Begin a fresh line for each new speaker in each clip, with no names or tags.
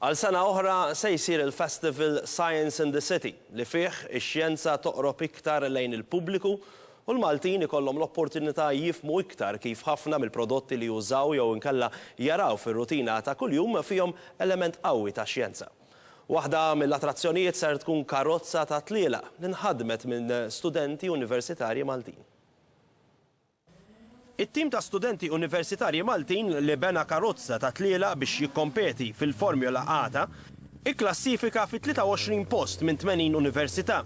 Għal sena oħra se jsir il-festival Science in the City li fih ix-xjenza toqrob iktar lejn il-pubbliku u l-Maltin ikollhom l-opportunità jifhmu iktar kif ħafna mill-prodotti li jużaw jew inkella jaraw fir-rutina ta' kuljum fihom element qawwi ta' xjenza. Waħda mill-attrazzjonijiet ser tkun karozza ta' tlielaq li nħadmet minn studenti universitarji Maltin. It-tim ta' studenti universitarji Maltin li bena karozza ta' tlielaq biex jikkompeti fil-Formula Ata kklassifika fit-23 post minn 80 università.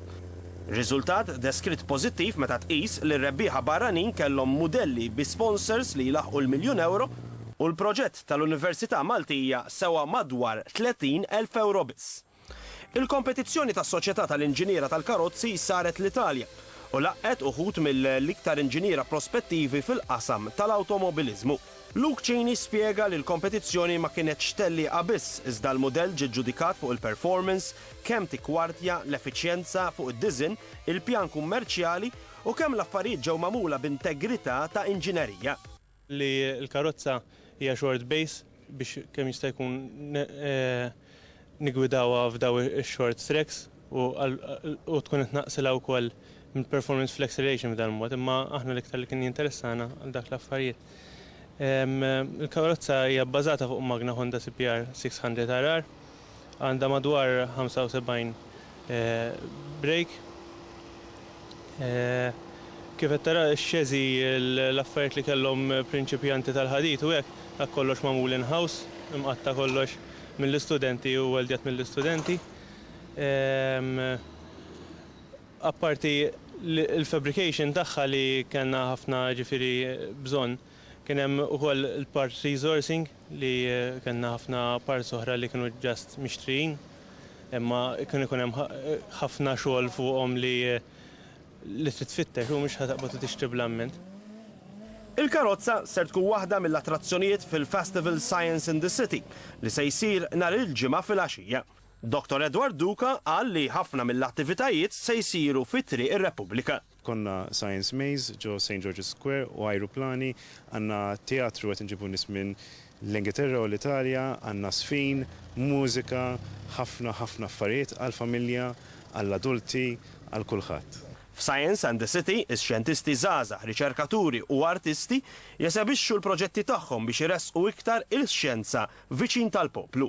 Riżultat deskritt pożittiv meta tqis li r-rebbieħa barranin kellhom mudelli bi sponsors li jlaħħqu l-miljun ewro u l-proġett tal-Università Maltija sewa madwar 30 elf ewro biss. Il-kompetizzjoni tas-Soċjetà tal-Inġiniera tal-Karozzi saret l-Italja u laqqgħet uħud mill-iktar inġiniera prospettivi fil-qasam tal-awtomobiliżmu. Luke Cini spjega li l-kompetizzjoni ma kienetx tellieqa biss iżda l-mudell ġie ġġudikat fuq il-performance, kemm tikkwartja, l-effiċjenza, fuq id-diżinn, il-pjan kummerċjali u kemm l-affarijiet ġew magħmula b'integrità ta' inġinerija. li
l-karozza hija short base biex kemm jista' jkun niggwidawha f'daw ix-short tracks u tkun qed tnaqqsilha wkoll mill-performance fl-acceleration b'dan mod imma aħna l-iktar li kien jinteressana għal dak l-affarijiet il-karozza hija bbażata fuq magna Honda CPR 600 RR. għandha madwar 75 brejk. Kif qed tara x-xeżi, l-affarijiet li kellhom prinċipjanti tal-ħadid u hekk, dak kollox magħmul in-house, imqatta' kollox mill-istudenti u weldjat mill-istudenti. Apparti l-fabrication tagħha li kellna ħafna ġifieri bżonn, kien hemm ukoll il-part resourcing. li kellna ħafna parts oħra li kienu just mixtrijin imma kien ikun hemm ħafna xogħol fuqhom li li trid tfittex u mhux ħa taqbad u tixtri bl-amment.
Il-karozza ser tkun waħda mill-attrazzjonijiet fil-Festival Science in the City li se jsir nhar il-Ġimgħa filgħaxija. Dottor Edward Duka qal li ħafna mill-attivitajiet se jsiru fi Triq ir-Repubblika. Konna Science
Maze ġo Saint George's Square u ajruplani, għandna teatru qed inġibu nies minn l-Ingilterra u l-Italja, għandna żfin, mużika, ħafna ħafna affarijiet għall-familja, għall-adulti, għal kulħadd. F'Science and the
City, ix-xjentisti żgħażagħ, riċerkaturi u artisti jesebixxu l-proġetti tagħhom biex iressqu iktar il-xjenza viċin tal-poplu.